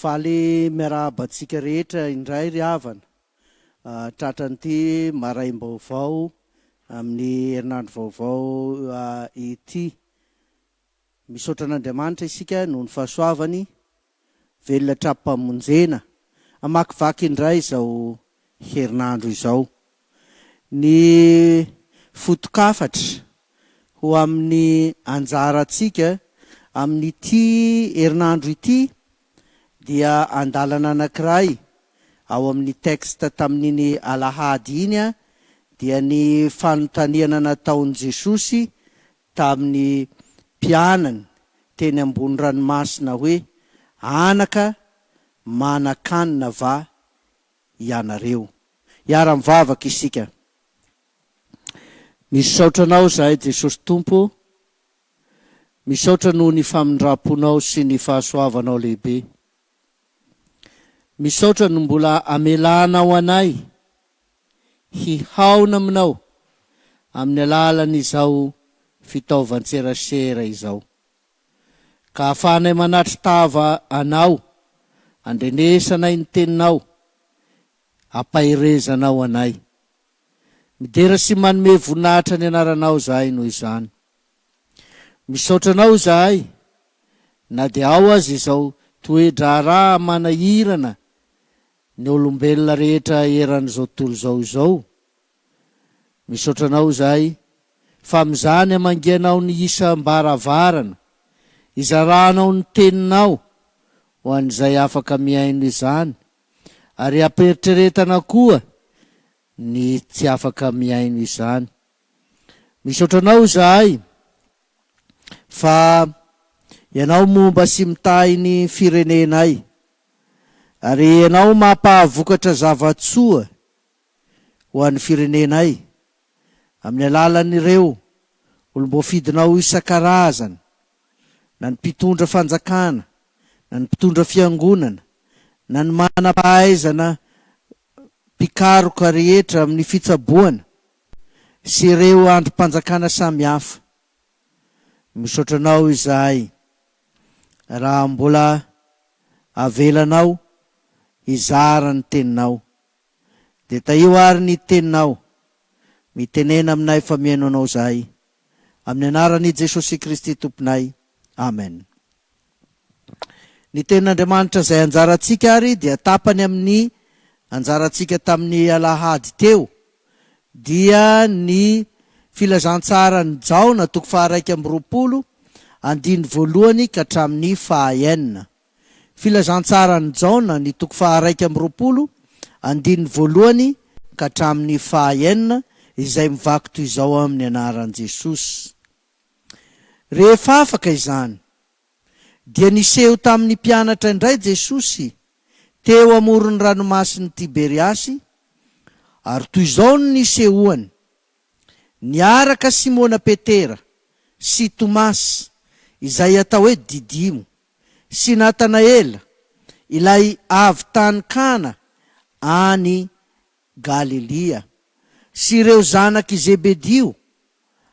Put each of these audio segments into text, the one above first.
Faly miarahaba antsika rehetra indray ry havana, tratran'ity maraim-baovao amin'ny herinandro vaovao ity. Misaotra an'Andriamanitra isika noho ny fahasoavany Velona tra-pamonjena. Hamakivaky indray izao herinandro izao ny foto-kafatra ho amin'ny anjarantsika amin'ity herinandro ity dia andalana anankiray ao amin'ny texte tamin'iny alahady iny dia ny fanontaniana nataon'i Jesosy tamin'ny mpianany teny ambony ranomasina hoe, Anaka manan-kanina va ianareo? Hiara-mivavaka isika. Misaotra Anao izahay, Jesosy Tompo ô. Misaotra noho ny famindram-ponao sy ny fahasoavanao lehibe. Misaotra no mbola amelanao anay. hihaona aminao amin'ny alalan'izao fitaovan-tserasera izao, ka ahafahanay manatri-tava anao, andrenesanay ny teninao, ampaherezanao anay. Midera sy manome voninahitra ny anaranao izahay noho izany. Misaotra anao izahay na dia ao aza izao toe-draharaha manahirana Ny olombelona rehetra eran'izao tontolo izao izao. Misaotra anao izahay fa amin'izany hamangianao ny isam-baravarana izarahanao ny teninao ho an'izay afaka mihaino izany ary ampiheritreretana koa ny tsy afaka mihaino izany. Misaotra anao izahay fa ianao momba sy mitahy ny firenenay. Ary Ianao mampahavokatra zava-tsoa ho an'ny firenenay amin'ny alalan'ireo olom-boafidinao isan-karazany, na ny mpitondra fanjakana, na ny mpitondra fiangonana, na ny manam-pahaizana mpikaroka rehetra amin'ny fitsaboana, sy ireo andrim-panjakana samihafa. Misaotra anao izahay raha mbola avelanao hizara ny teninao. Dia tahio ary ny teninao. Mitenena aminay fa mihaino anao izahay. Amin'ny anaran'i Jesosy Kristy Tomponay. Amen. Ny Tenin'Andriamanitra izay anjarantsika ary dia tapany amin'ny anjarantsika tamin'ny alahady teo, dia ny Filazantsaran'i Jaona toko faharaika amby roapolo, andininy voalohany ka hatramin'ny fahaenina. Filazantsaran'i Jaona ny toko faharaika amby roapolo, andininy voalohany ka hatramin'ny fahaenina, izay mivaky toy izao amin'ny anaran'i Jesosy. Rehefa afaka izany, dia niseho tamin'ny mpianatra indray Jesosy teo amoron'ny Ranomasin'i Tiberiasy, ary toy izao no nisehoany, Niaraka Simona Petera sy Tomasy, izay atao hoe Didimo, sy Natanaela, ilay avy tany Kana any Galilia, sy ireo zanak'i Zebedio,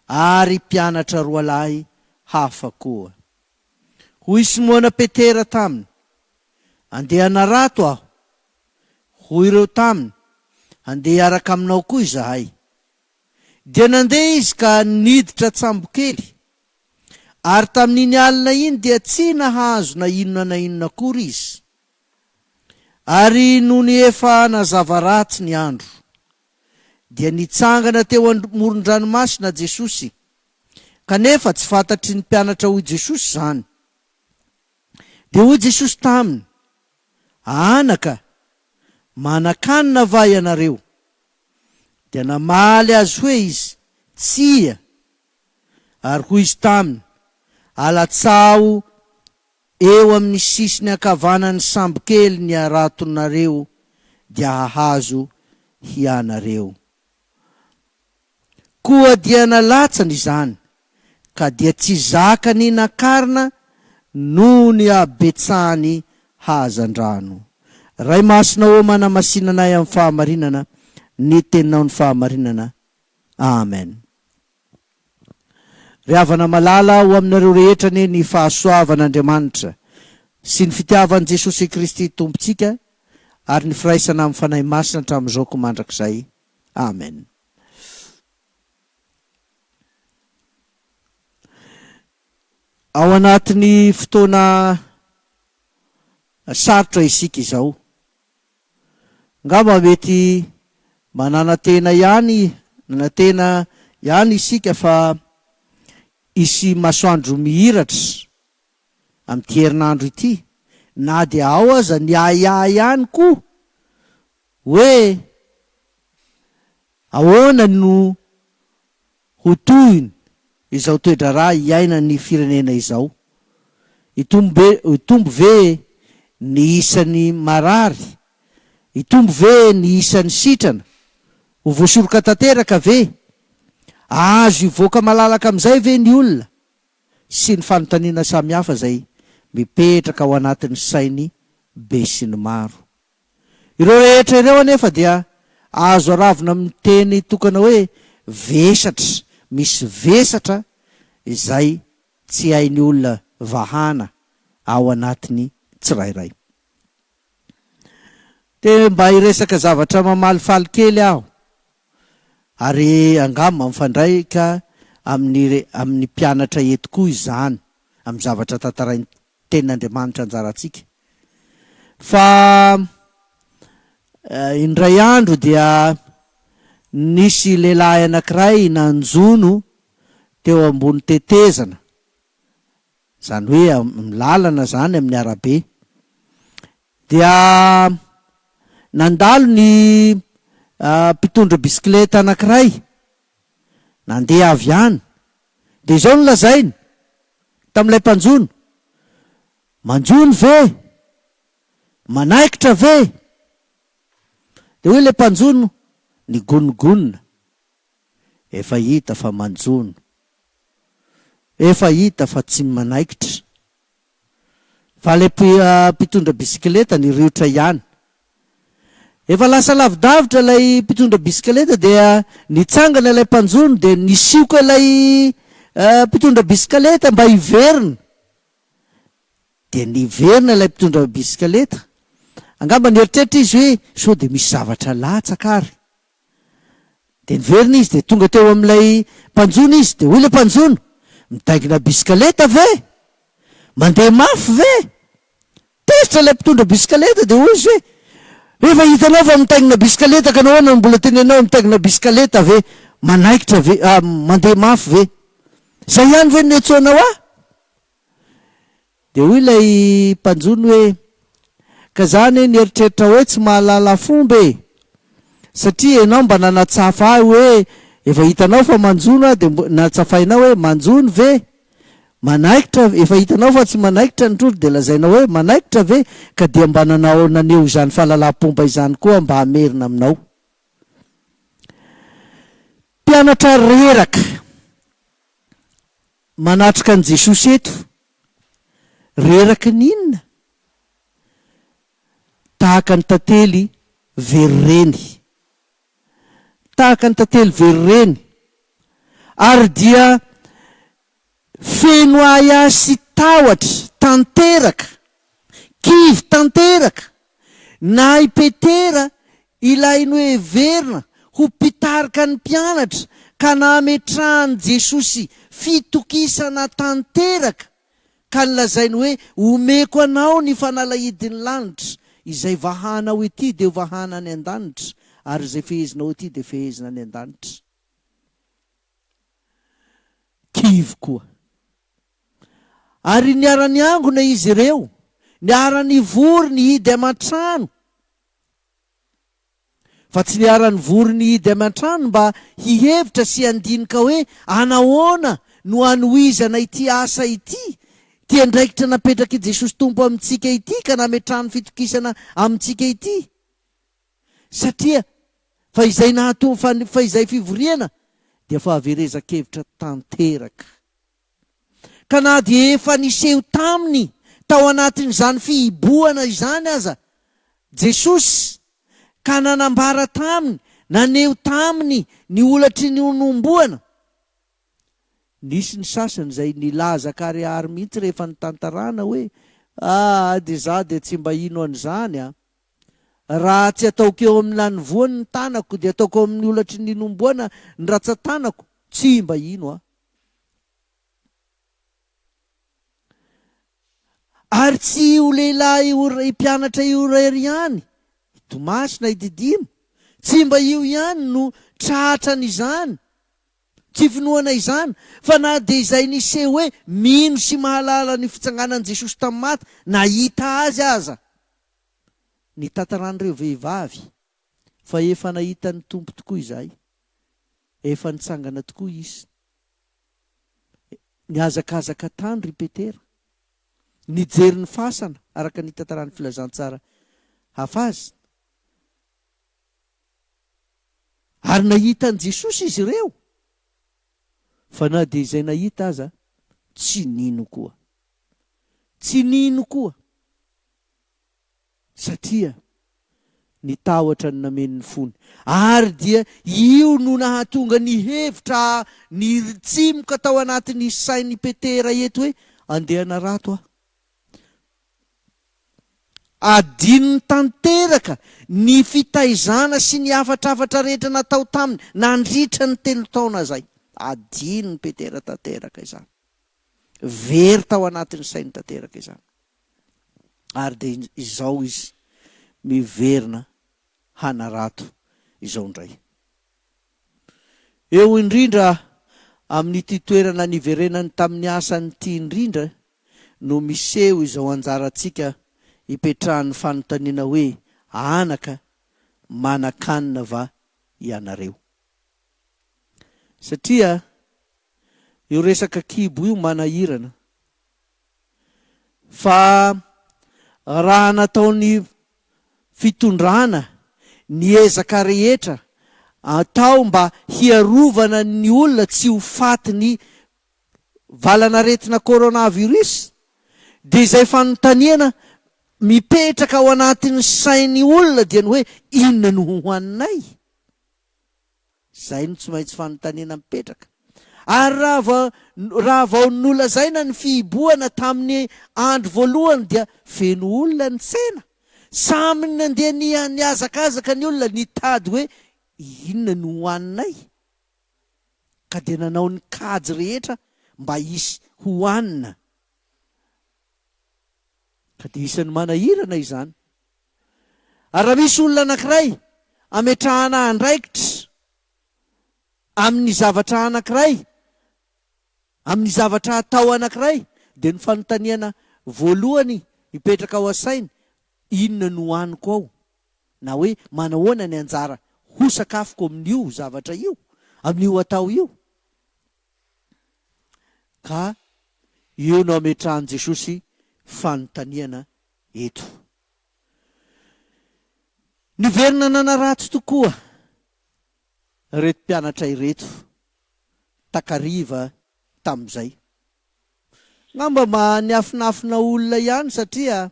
ary mpianatra roalahy hafa koa. Hoy Simona Petera taminy, Andeha hanarato aho. Hoy ireo taminy, Handeha hiaraka aminao koa izahay. Dia nandeha izy ka niditra an-tsambokely. Ary tamin'iny alina iny dia tsy nahazo na inona na inona akory izy. Ary nony efa nazava ratsy ny andro. dia nitsangana teo amoron-dranomasina Jesosy, kanefa tsy fantatry ny mpianatra hoy Jesosy izany. Dia hoy Jesosy taminy, Anaka, manan-kanina va ianareo? Dia namaly azy hoe izy, Tsia. Ary hoy izy taminy, Alatsaho Eo amin'ny sisiny ankavanan'ny sambokely ny haratonareo dia hahazo hianareo. Koa dia nalatsany izany, ka dia tsy zakany nakarina noho ny habetsahany hazandrano. Ray Masina ô manamasinanay amin'ny fahamarinana ny teninao ny fahamarinana. Amen. Ry havana malala, ho aminareo rehetra anie ny fahasoavan'Andriamanitra sy ny fitiavan'i Jesosy Kristy Tompontsika ary ny firaisana amin'ny Fanahy Masina hatramin'izao koa mandrakizay. Amen. Ao anatin'ny fotoana sarotra isika izao. Angamba mety mananatena ihany nanatena ihany isika fa hisy masoandro mihiratra amin'ity herinandro ity, na dia ao aza ny ahiahy ihany koa hoe ahoana no. Ho tohiny izao toe-draharaha iainan'ny firenena izao, hitombo be hitombo ve ny isan'ny marary, hitombo ve ny isan'ny sitrana, ho voasoroka tanteraka ve, ahazo hivoaka malalaka amin'izay ve ny olona sy ny fanontaniana samihafa izay mipetraka ao anatin'ny sain'ny besinimaro. Ireo rehetra ireo anefa dia azo aravona amin'ny teny tokana hoe vesatra, misy vesatra izay tsy hain'ny olona vahana ao anatiny tsirairay. Te mba hiresaka zavatra mamalifaly kely aho ary angamba mifandraika amin'ny amin'ny mpianatra eto koa izany amin'ny zavatra tantarain'i Tenin'Andriamanitra anjarantsika. Fa indray andro dia nisy lehilahy anankiray nanjono teo ambony tetezana, izany hoe amin'ny lalana izany, amin'ny arabe. Dia nandalo ny mpitondra bisikileta anankiray, nandeha avy any, Dia izao no lazainy tamin'ilay mpanjono, Manjono ve? Manaikitra ve? Dia hoy ilay mpanjono nigonogonona, Efa hita fa manjono. Efa hita fa tsy manaikitra. Fa ilay mpitondra bisikileta niriotra ihany. Efa lasa lavidavitra ilay mpitondra bisikileta dia nitsangana ilay mpanjono dia nisioka ilay mpitondra bisikileta mba hiverina. Dia niverina ilay mpitondra bisikileta. Angamba nieritreritra izy hoe sao dia misy zavatra latsaka ary. Dia niverina izy dia tonga teo amin'ilay mpanjono izy dia hoy ilay mpanjono, midaingina bisikaleta ve? Mandeha mafy ve? Tezitra ilay mpitondra bisikaleta dia hoy izy hoe, rehefa hitanao fa mitaingina bisikaleta ka nahoana no mbola tenenao hoe mitaingina bisikaleta ve? Manaikitra ve? Mandeha mafy ve? Izay ihany ve no niantsoanao ahy? Dia hoy ilay mpanjono hoe, Ka za anie nieritreritra hoe tsy mahalala fomba e! Satria enao mba nanatsafa ahy hoe efa hitanao fa manjono aho dia natsafainao hoe manjono ve? Manaikitra efa hitanao fa tsy manaikitra ny trondro dia lazainao hoe manaikitra ve? Ka dia mba nanao naneho izany fahalalam-pomba izany koa aho mba hamerina aminao. Mpianatra reraka. Manatrika an'i Jesosy eto. Reraky ny inona? Tahaka ny tantely very reny. Tahaka ny tantely very reny. Ary dia feno ahiahy sy tahotra tanteraka. Kivy tanteraka na i Petera ilay noheverina ho mpitarika ny mpianatra ka nametrahan'i Jesosy fitokisana tanteraka ka nilazainy hoe, Omeko anao ny fanalahidin'ny lanitra, izay vahanao ety dia ho vahana any an-danitra ary izay fehezinao ety dia fehezina any an-danitra. Kivy koa. Ary niara-niangona izy ireo, niara-nivory nihidy aman-trano, fa tsy niara-nivory nihidy aman-trano mba hihevitra sy handinika hoe anahoana no hanohizana ity asa ity, ity andraikitra napetrak'i Jesosy Tompo amintsika ity ka nametrahany fitokisana amintsika ity. Satria fa izay nahatonga fa ny fa izay fivoriana dia fahaverezan-kevitra tanteraka. Ka na dia efa niseho taminy tao anatin'izany fihibohana izany aza Jesosy ka nanambara taminy, naneho taminy ny holatry ny honomboana, nisy ny sasany izay nilaza karihary mihitsy rehefa nitantarana hoe, Aa dia izaho dia tsy mba hino an'izany a! Raha tsy ataoko eo amin'ny lanivoany ny tanako, dia ataoko eo amin'ny olatry ny linomboana ny ratsan-tanako, tsy mba hino aho. Ary tsy io lehilahy io ry mpianatra io irery ihany, i Tomasy na i Didimo, tsy mba io ihany no tratra an'izany, tsy finoana izany, fa na dia izay niseho hoe mino sy mahalala ny fitsanganan'i Jesosy tamin'ny maty, nahita Azy aza. ny tantaran'ireo vehivavy fa efa nahita ny Tompo tokoa izahay, efa nitsangana tokoa Izy. Nihazakazaka tany ry Petera, nijery ny fasana araka ny tantaran'ny Filazantsara hafa azy, ary nahita an'i Jesosy izy ireo, fa na dia izay nahita aza, tsy nino koa. Tsy nino koa. Satria ny tahotra no nameno ny fony, ary dia io no nahatonga ny hevitra niritsimoka tao anatin'ny sain'i Petera eto hoe, Andeha hanarato aho. Adinony tanteraka ny fitaizana sy ny hafatrafatra rehetra natao taminy nandritra ny telo taona izay. Adinon'i Petera tanteraka izany. Very tao anatin'ny sainy tanteraka izany. ary dia izao izy miverina hanarato izao indray. Eo indrindra amin'ity toerana niverenany tamin'ny asany ity indrindra no miseho izao anjarantsika ipetrahan'ny fanontaniana hoe anaka manan-kanina va ianareo? Satria io resaka kibo io manahirana Fa raha nataon'ny fitondrana ny ezaka rehetra atao mba hiarovana ny olona tsy ho fatin'ny valanaretina coronavirus dia izay fanontaniana mipetraka ao anatin'ny sain'ny olona dia ny hoe inona no hohaninay? Izay no tsy maintsy fanontaniana mipetraka. Ary raha vao, raha vao nolazaina ny fihibohana tamin'ny andro voalohany dia feno olona ny tsena. Samy nandeha ni, nihazakazaka ny olona nitady hoe inona no hohaninay. Ka dia nanao ny kajy rehetra mba hisy hohanina. Ka dia isan'ny manahirana izany. Ary raha misy olona anankiray ametrahana andraikitra amin'ny zavatra anankiray, amin'ny zavatra atao anankiray, dia ny fanontaniana voalohany mipetraka ao an-sainy, Inona no haniko ao? na hoe Manahoana ny anjara ho sakafoko amin'io zavatra io, amin'io atao io? Ka eo no ametrahan'i Jesosy fanontaniana eto. Niverina nanaratsy tokoa ireto mpianatra ireto takariva tamin'izay. Angamba mba niafinafina olona ihany satria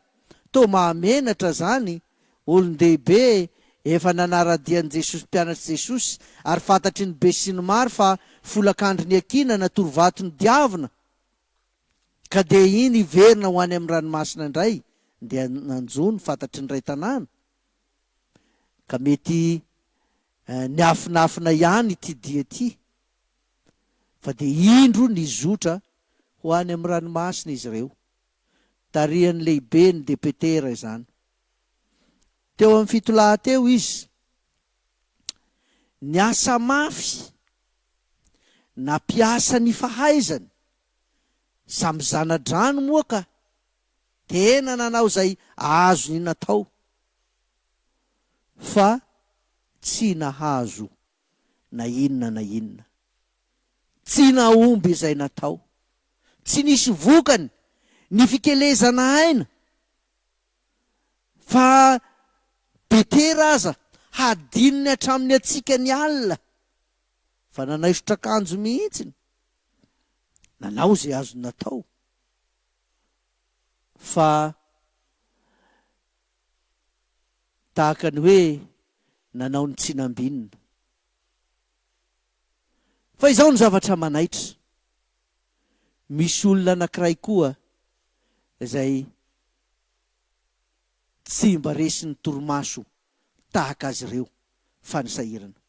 toa mahamenatra izany, olon-dehibe efa nanara-dia an'i Jesosy, mpianatr'i Jesosy, ary fantatry ny besinimaro fa folakandro niakiana na torovato nodiavina. Ka dia iny hiverina ho any amin'ny ranomasina indray dia nanjo ny fantatry ny iray tanàna? Ka mety niafinafina ihany ity dia ity, fa dia indro nizotra ho any amin'ny ranomasina izy ireo. Tarihan'ny lehiben'ny depetera izany. Teo amin'ny fito lahy teo izy. Niasa mafy, nampiasa ny fahaizany. Samy zana-drano moa ka! Tena nanao izay azony natao fa tsy nahazo na inona na inona. Tsy nahomby izay natao. Tsy nisy vokany ny fikelezana aina fa betera aza hadinony hatramin'ny hatsiaka ny alina fa nanaisotra akanjo mihitsy. nanao izay azony natao fa tahaka ny hoe nanao ny tsy nambinina. Fa izao ny zavatra manaitra, misy olona anankiray koa izay tsy mba resin'ny torimaso tahaka azy ireo fa ny sahirana.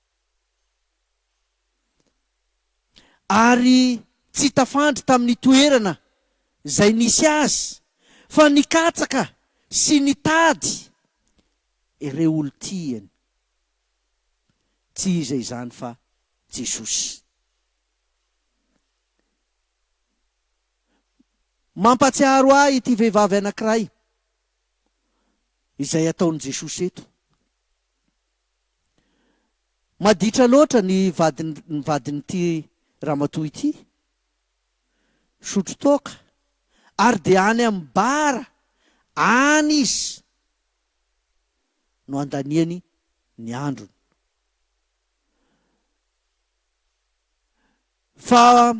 ary tsy tafandry tamin'ny toerana izay nisy azy fa nikatsaka sy nitady ireo olon-tiany, tsy iza izany fa Jesosy. Mampahatsiaro ahy ity vehivavy anankiray izay ataon'i Jesosy eto. Maditra loatra ny vadiny vadin'ity ramatoa ity. Sotro toaka ary dia any amin'ny bar any izy no andaniany ny androny. Fa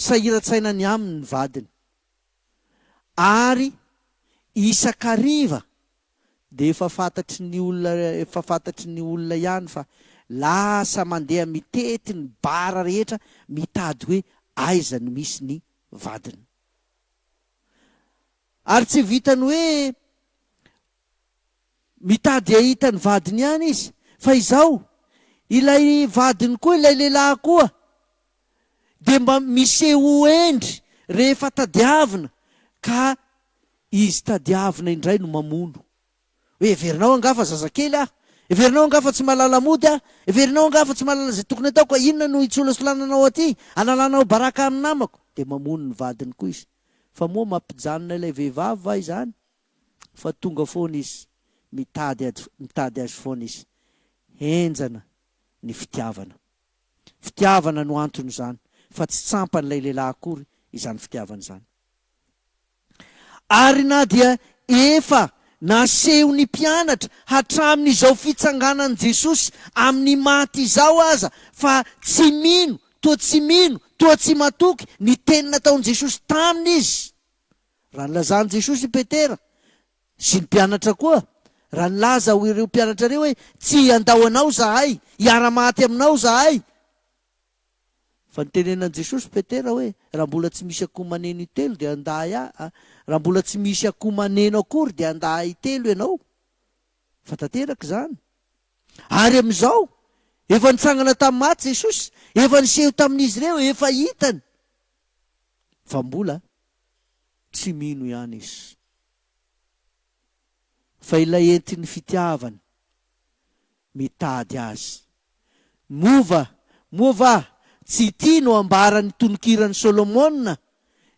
sahiran-tsaina ny aminy ny vadiny ary isan-kariva dia efa fantatry ny olona efa fantatry ny olona ihany fa lasa mandeha mitety ny bara rehetra mitady hoe aiza no misy ny vadiny. Ary tsy vitan'ny hoe mitady hahita ny vadiny ihany izy fa izao, ilay vadiny koa ilay lehilahy koa dia mba miseho hendry rehefa tadiavina ka izy tadiavina indray no mamono. Hoe heverinao angaha fa zazakely aho? Heverinao angaha fa tsy mahalala mody aho? Heverinao angaha fa tsy mahalala izay tokony hataoko ka inona no hisolasolananao aty halalanao baraka amin'ny namako? Dia mamono ny vadiny koa izy. Fa moa mampijanona ilay vehivavy va izany? Fa tonga foana izy, mitady, mitady azy foana izy. Henjana ny fitiavana. Fitiavana no anton'izany fa tsy tsampan'ilay lehilahy akory izany fitiavana izany. Ary na dia efa nasehon'ny mpianatra hatramin'izao fitsanganan'i Jesosy amin'ny maty izao aza fa tsy mino toa tsy mino toa tsy matoky ny teny nataon'i Jesosy taminy izy, raha nilazan'i Jesosy i Petera, Sy ny mpianatra koa, raha nilaza ho ireo mpianatra ireo hoe, Tsy handao anao izahay, hiara-maty aminao izahay. Fa notenenan'i Jesosy Petera hoe, Raha mbola tsy misy akoho maneno intelo dia handà ahy, raha mbola tsy misy akoho maneno akory dia handà ahy intelo ianao. Fa tanteraka izany. Ary amin'izao, efa nitsangana tamin'ny maty Jesosy, efa niseho tamin'izy ireo, efa hitany fa mbola. Tsy mino ihany izy fa ilay entin'ny fitiavany mitady azy. Moa va, moa va tsy ity no ambaran'ny tononkiran'i Solomona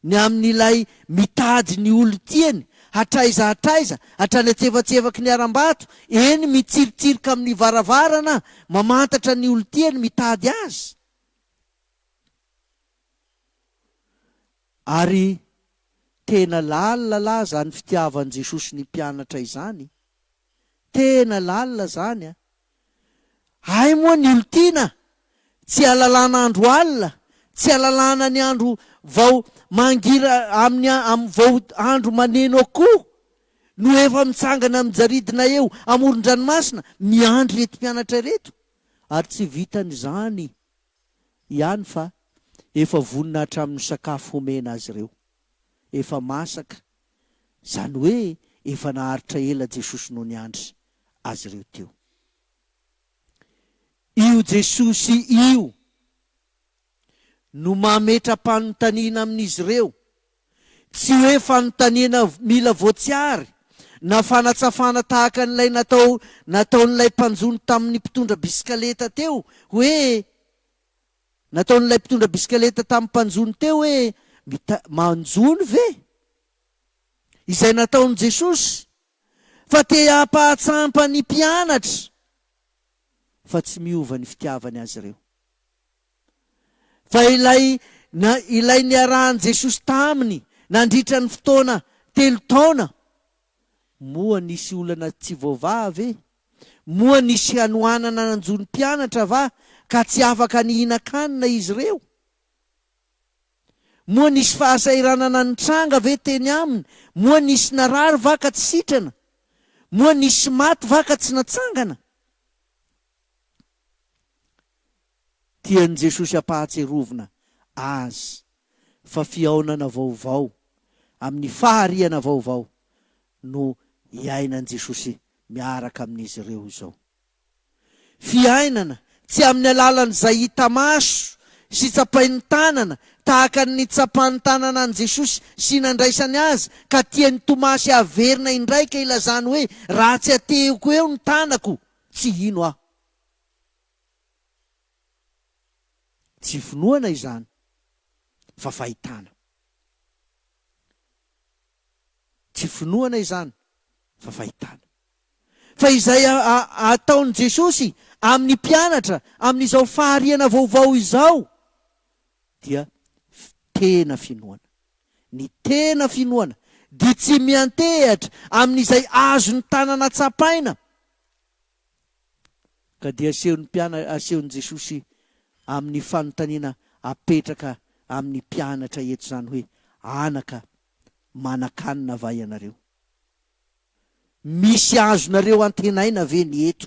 ny amin'ilay mitady ny olon-tiany hatraiza hatraiza, hatrany antsefatsefaky ny harambato, eny mitsiritsirika amin'ny varavarana mamantatra ny olon-tiany mitady azy? Ary tena lalina lah izany fitiavan'i Jesosy ny mpianatra izany. Tena lalina izany a! Hay moa ny olon-tiana tsy halalana andro alina, tsy halalana ny andro vao mangira amin'ny amin'ny vao andro maneno akoho no efa mitsangana mijaridina eo amoron-dranomasina miandry ireto mpianatra ireto, ary tsy vitan'izany. ihany fa efa vonona hatramin'ny sakafo homena azy ireo. Efa masaka, izany hoe efa naharitra ela Jesosy no niandry azy ireo teo. Io Jesosy io no mametra-panontaniana amin'izy ireo. Tsy hoe fanontaniana mila voatsiary na fanatsafana tahaka an'ilay natao nataon'ilay mpanjono tamin'ny mpitondra bisikaleta teo hoe nataon'ilay mpitondra bisikaleta tamin'ny mpanjono teo hoe mita, manjono ve? Izay nataon'i Jesosy, fa te hampahatsampa ny mpianatra fa tsy miova ny fitiavany azy ireo. Fa ilay na ilay niarahan'i Jesosy taminy nandritra ny fotoana telo taona, moa nisy olana tsy voavaha ve? Moa nisy hanoanana nanjo ny mpianatra va ka tsy afaka nihinan-kanina izy ireo? Moa nisy fahasahiranana nitranga ve teny aminy? Moa nisy narary va ka tsy sitrana? Moa nisy maty va ka tsy natsangana? Tian'i Jesosy hampahatsiarovina azy fa fihaonana vaovao amin'ny fahariana vaovao no iainan'i Jesosy miaraka amin'izy ireo izao. Fiainana tsy amin'ny alalan'izay hita maso sy tsapain'ny tanana tahaka ny nitsapan'ny tanana an'i Jesosy sy nandraisany azy ka tian'i Tomasy haverina indraika ilazany hoe raha tsy atehiko eo ny tanako tsy hino aho. Tsy finoana izany fa fahitana. Tsy finoana izany fa fahitana. Fa izay ataon'i Jesosy amin'ny mpianatra amin'izao fahariana vaovao izao dia tena finoana. Ny tena finoana dia tsy miantehatra amin'izay azon'ny tanana tsapaina. Ka dia asehon'ny mpiana, asehon'i Jesosy amin'ny fanontaniana apetraka amin'ny mpianatra eto izany hoe, Anaka, manan-kanina va ianareo? Misy azonareo antenaina ve ny eto?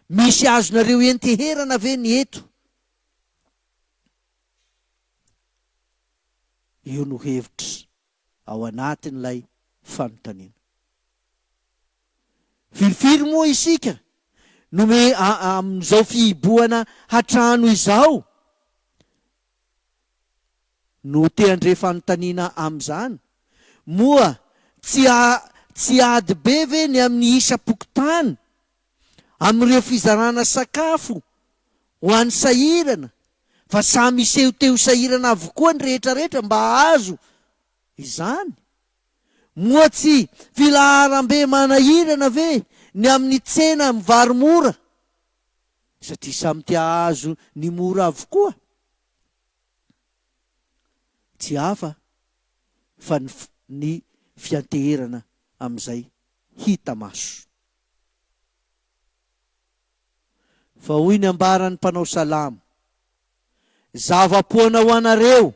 Misy azonareo enteherana ve ny eto? Io no hevitra ao anatin'ilay fanontaniana. Firifiry moa isika no me aa amin'izao fihibohana hatrano izao no te handre fanontaniana amin'izany? Moa tsy aa tsy ady be ve ny amin'ny isam-pokontany amin'ireo fizarana sakafo ho an'ny sahirana fa samy hiseho te ho sahirana avokoa ny rehetrarehetra mba hahazo izany? Moa tsy filaharam-be manahirana ve ny amin'ny tsena amin'ny vary mora? Satria samy te hahazo ny mora avokoa. Tsy hafa fa ny ny fianteherana amin'izay hita maso. Fa hoy ny ambaran'ny mpanao salamo. Zava-poana ho anareo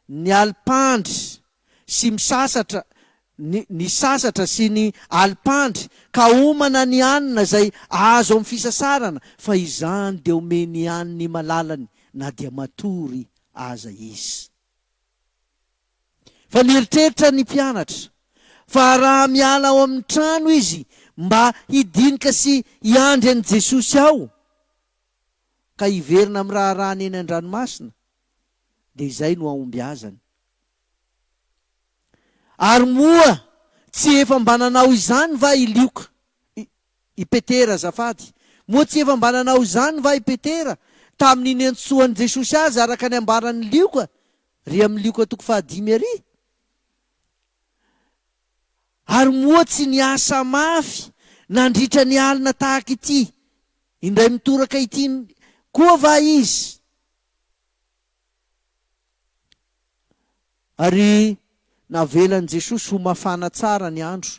ny alipandry sy misasatra ny ny sasatra sy ny alipandry ka homana ny hanina izay azo amin'ny fisasarana fa izany dia omeny ihany ny malalany na dia matory aza izy. Fa nieritreritra ny mpianatra fa raha miala ao amin'ny trano izy mba hidinika sy hiandry an'i Jesosy ao, ka hiverina amin'ny raharahany eny an-dranomasina, dia izay no hahombiazany. Ary moa tsy efa mba nanao izany va i Lioka, i, i Petera azafady, moa tsy efa mba nanao izany va i Petera, tamin'ny niantsoan'i Jesosy azy araka ny ambaran'i Lioka, ry amin'ny Lioka toko fahadimy ary? Ary moa tsy niasa mafy nandritra ny alina tahaka ity indray mitoraka ity koa va izy? Ary navelan'i Jesosy ho mafana tsara ny andro,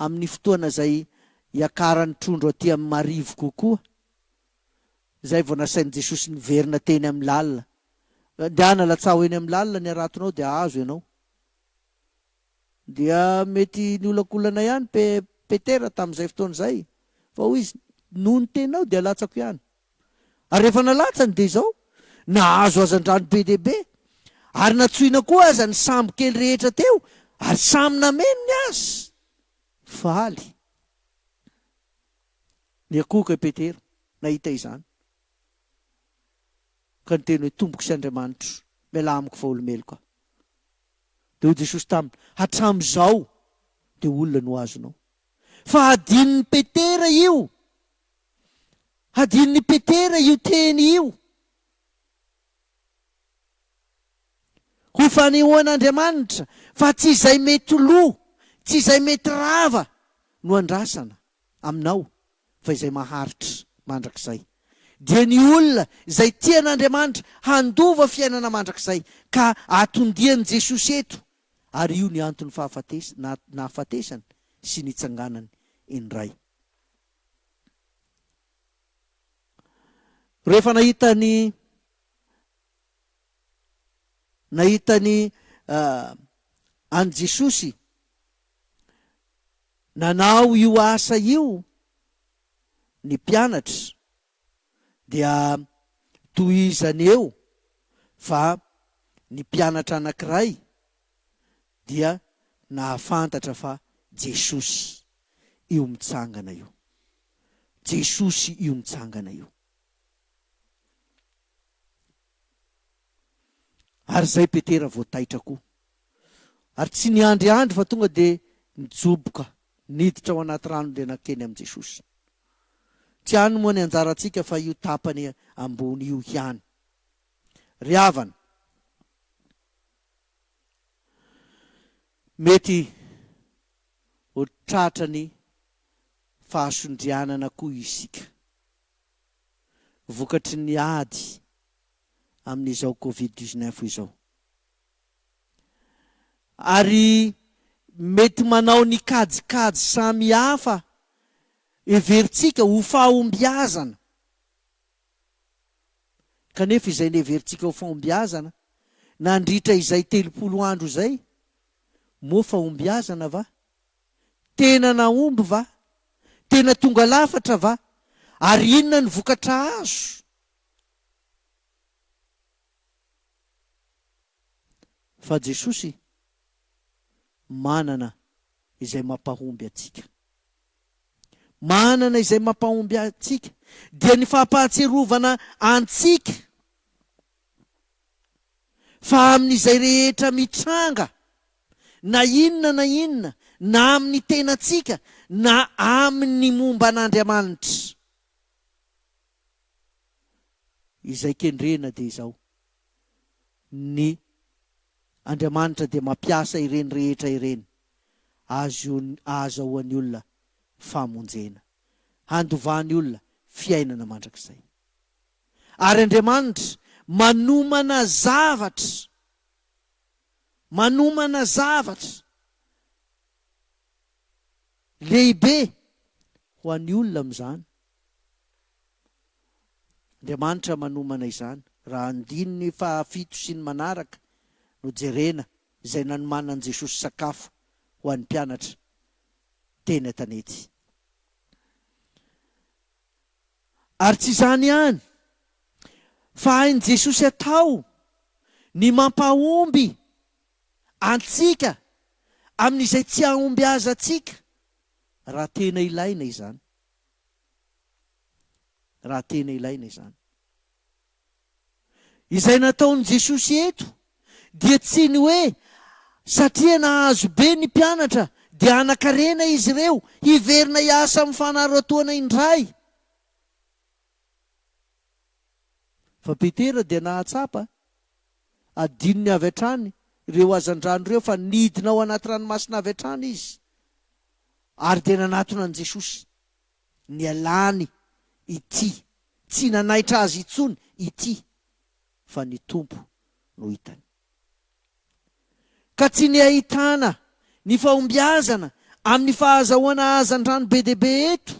amin'ny fotoana izay hiakaran'ny trondro aty amin'ny marivo kokoa. Izay vao nasain'i Jesosy niverina teny amin'ny lalina. Ndehana latsaho eny amin'ny lalina ny haratonao dia azo ianao. Dia mety niolakolana ihany Pe, Petera tamin'izay fotoana izay, fa hoy izy, Noho ny teninao dia latsako ihany. Ary rehefa nalatsany dia izao, nahazo hazandrano be dia be, ary natsoina koa aza ny sambo kely rehetra teo, ary samy nameno ny azy. Faly. Niakohoka i Petera nahita izany, ka niteny hoe, Tompoko sy Andriamanitro, mialà amiko fa olo-meloka. Dia hoy Jesosy taminy, Hatramin'izao dia olona no azonao. Fa hadinon'i Petera io. Hadinon'i Petera io teny io. Ho fanehoan'Andriamanitra fa tsy izay mety lo, tsy izay mety rava no andrasana. Aminao, fa izay maharitra mandrakizay. Dia ny olona izay tia an'Andriamanitra handova fiainana mandrakizay ka atondian'i Jesosy eto, ary io ny anton'ny fahafates na nahafatesany sy nitsanganany indray. Rehefa nahita ny nahita ny an'i Jesosy, Nanao io asa io ny mpianatra dia tohizany eo fa ny mpianatra anankiray dia nahafantatra fa Jesosy io mitsangana io. Jesosy io mitsangana io. Ary izay Petera vao taitra koa. Ary tsy niandriandry fa tonga dia nijoboka niditra ao anaty rano dia nankeny amin'i Jesosy. Tsy any moa ny anjarantsika fa io tapany ambony io ihany. Ry havana, mety ho tratran'ny fahasondrianana koa isika. vokatry ny ady amin'izao Covid dix-neuf izao. Ary mety manao ny kajikajy samihafa heverintsika ho fahombiazana. Kanefa izay niheverintsika ho fahombiazana nandritra izay telopolo andro izay, moa fahombiazana va? Tena nahomby va? Tena tonga lafatra va? Ary inona ny vokatra azo? Fa Jesosy manana izay mampahomby antsika. Manana izay mampahomby antsika, dia ny fampahatsiarovana antsika fa amin'izay rehetra mitranga, na inona na inona, na amin'ny tenantsika, na amin'ny momba an'Andriamanitra. Izay kendrena dia izao, Ny Andriamanitra dia mampiasa ireny rehetra ireny ahazahoany olona famonjena, handovany olona fiainana mandrakizay. Ary Andriamanitra manomana zavatra. Manomana zavatra lehibe ho an'ny olona amin'izany Andriamanitra manomana izany, raha andininy fahafito sy ny manaraka no jerena, izay nanomanan'i Jesosy sakafo ho an'ny mpianatra teny an-tanety. Ary tsy izany ihany, fa hain'i Jesosy atao ny mampahomby antsika amin'izay tsy hahombiazantsika, raha tena ilaina izany. Raha tena ilaina izany. Izay nataon'i Jesosy eto dia tsy ny hoe satria nahazo be ny mpianatra dia hanan-karena izy ireo hiverina hiasa amin'ny fanaratoana indray. Fa Petera dia nahatsapa, adinony avy hatrany ireo hazandrano ireo fa nidina ao anaty ranomasina avy hatrany izy ary dia nanatona an'i Jesosy. Nialany ity, tsy nanaitra azy intsony ity, fa ny Tompo no hitany. Ka tsy ny ahitana ny fahombiazana amin'ny fahazahoana hazandrano be dia be eto,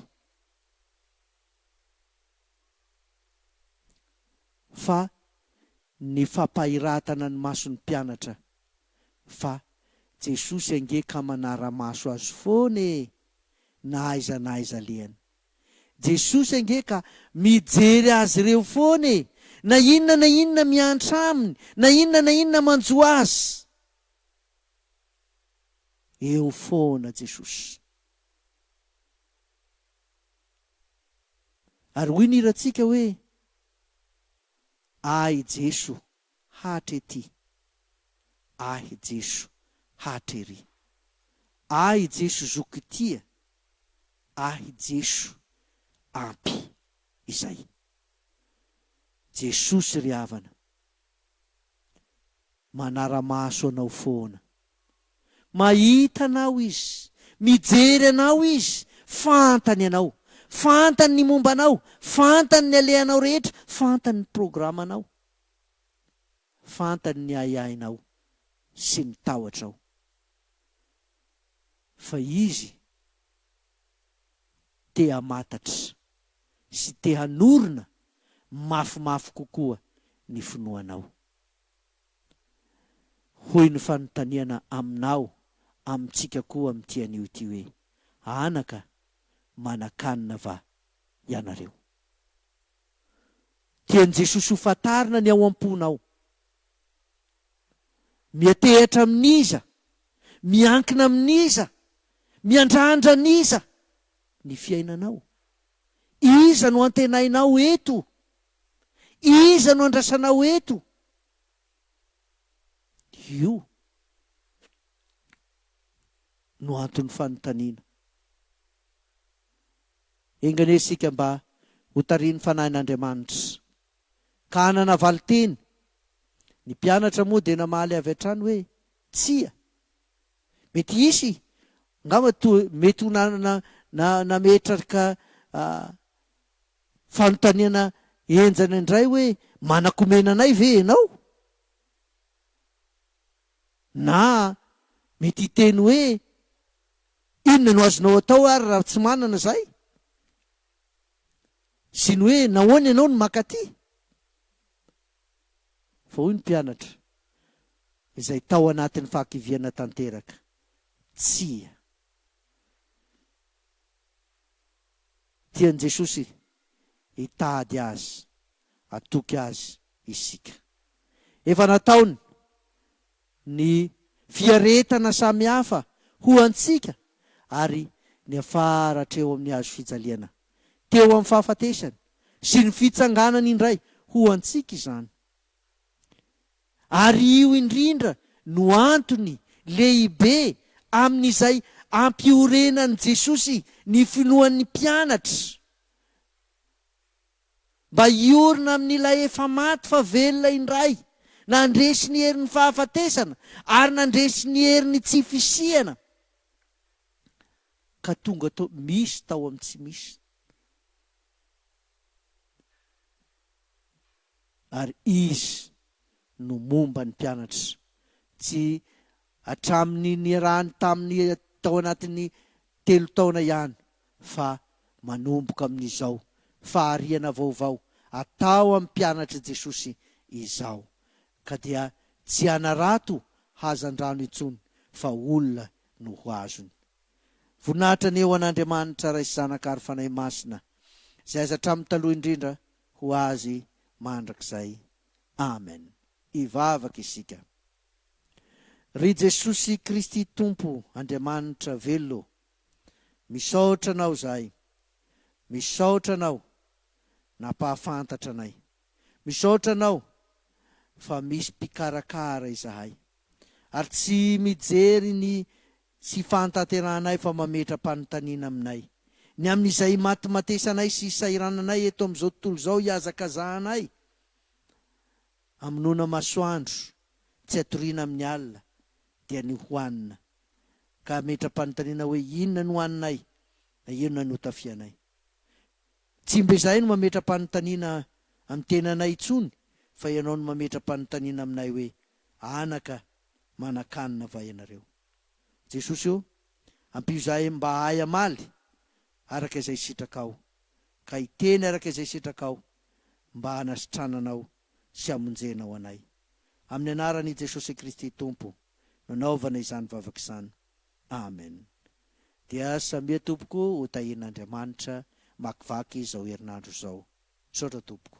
fa ny fampahiratana ny mason'ny mpianatra fa Jesosy ange ka manara-maso azy foana e! na aiza na aiza alehany. Jesosy ange ka mijery azy ireo foana e! Na inona na inona miantra Aminy, na inona na inona manjo Azy, eo foana Jesosy. Ary hoy ny hirantsika hoe, Ahy Jeso hatrety. Ahy Jeso hatrery. Ahy Jeso zoky tia. Ahy Jeso ampy izay. Jesosy ry havana. Manara-maso anao foana. Mahita anao izy. Mijery anao izy. Fantany anao. Fantany ny momba anao. Fantany ny alehanao rehetra. Fantany ny programanao. Fantany ny ahiahinao sy ny tahotrao. Fa Izy te hamantatra sy te hanorina mafimafy kokoa ny finoanao. Hoy ny fanontaniana aminao amintsika koa amin'ity anio ity hoe, Anaka, manan-kanina va ianareo? dia ny Jesosy ho fantarina ny ao am-ponao. Miantehatra amin'iza, miankina amin'iza, miandrandra an'iza ny fiainanao? Iza no antenainao eto? Iza no andrasanao eto? Io no anton'ny fanontaniana. Enga anie isika mba ho tarihin'ny Fanahin'Andriamanitra, ka hanana valin-teny. Ny mpianatra moa dia namaly avy hatrany hoe, Tsia. Mety hisy, angamba toa mety ho nametraka fanontaniana henjana indray hoe, Manakomena anay ve ianao? Na mety hiteny hoe, Inona no azonao atao ary raha tsy manana izay? sy ny hoe Nahoana ianao no maka aty? Fa hoy ny mpianatra izay tao anatin'ny fahakiviana tanteraka, Tsia. Tian'i Jesosy hitady azy. hatoky azy isika. Efa nataony ny fiaretana samy hafa ho antsika ary niafara hatreo amin'ny hazo fijaliana teo amin'ny fahafatesany sy ny fitsanganany indray ho antsika izany. Ary io indrindra no antony lehibe amin'izay ampiorenan'i Jesosy ny finoan'ny mpianatra. mba hiorina amin'ilay efa maty fa velona indray, nandresy ny herin'ny fahafatesana ary nandresy ny herin'ny tsy fisiana ka tonga tao misy tao amin'ny tsy misy. Ary Izy no momba ny mpianatra, tsy hatramin'ny niarahany taminy tao anatin'ny telo taona ihany fa manomboka amin'izao fahariana vaovao atao amin'ny mpianatr'i Jesosy izao ka dia tsy hanarato hazandrano intsony fa olona no ho azony. Voninahitra ny eo an'Andriamanitra Ray sy Zanaka ary Fanahy Masina izay aza hatramin'ny taloha indrindra ho azy mandrakizay. Amen. Hivavaka isika. Ry Jesosy Kristy Tompo Andriamanitra velona ô, misaotra Anao zahay, misaotra Anao nampahafantatra anay, misaotra Anao fa misy mpikarakara izahay ary tsy mijery ny tsy fahatanterahanay fa mametra-panontaniana aminay ny amin'izay imatimatesanay sy isahirananay eto amin'izao tontolo izao ihazakazahanay Amonoana masoandro, tsy atoriana amin'ny alina, dia ny hohanina. Ka hametra-panontaniana hoe inona no haninay, na inona no hotafianay. Tsy mba izahay no mametra-panontaniana amin'ny tenanay intsony fa ianao no mametra-panontaniana aminay hoe, Anaka, manan-kanina va ianareo? Jesosy ô, ampio izahay mba hahay hamaly araka izay sitrakao, ka hiteny araka izay sitrakao. mba hanasitranana anao sy hamonjena ao anay. Amin'ny anaran' i Jesosy Kristy Tompo no anaovana izany vavaka izany. Amen. Dia samia tompoko ho tahin' Andriamanitra makivaky izao herinandro izao. Misaotra tompoko.